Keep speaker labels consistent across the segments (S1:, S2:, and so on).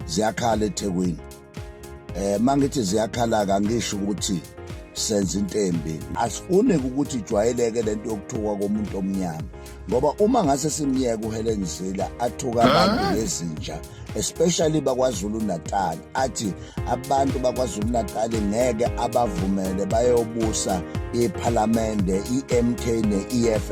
S1: ziyakhala ethekwini um ma ngithi ziyakhala-ke angisho ukuthi senza into embi asifuni ukuthi ijwayeleke le nto yokuthukwa komuntu omnyama ngoba uma ngase simyeka uhelen zila athuka abantu ngezinja especially bakwazulu natal athi abantu bakwazulu natal ngeke abavumele bayobusa iphalamende i-mk ne-eff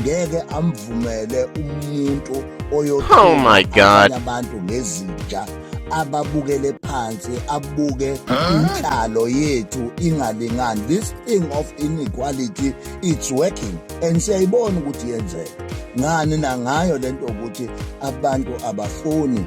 S1: ngeke amvumele umuntu oyothula abantu ngezinja ababukele phansi abuke inhlalo yethu ingalingani this thing of inequality it's working and siyayibona ukuthi yenzeka ngani nangayo lento ukuthi abantu abafuni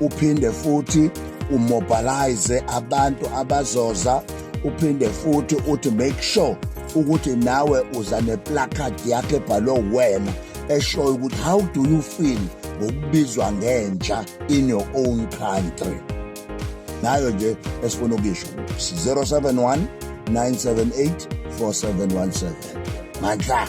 S1: uphinde futhi umobilize abantu abazoza uphinde futhi uthi make sure ukuthi nawe uza neplacard yakhe ebhalwe wena eshoyo ukuthi how do you feel ngokubizwa ngentsha in your own country nayo nje esifuna ukuyisho 071 978 4717 mandla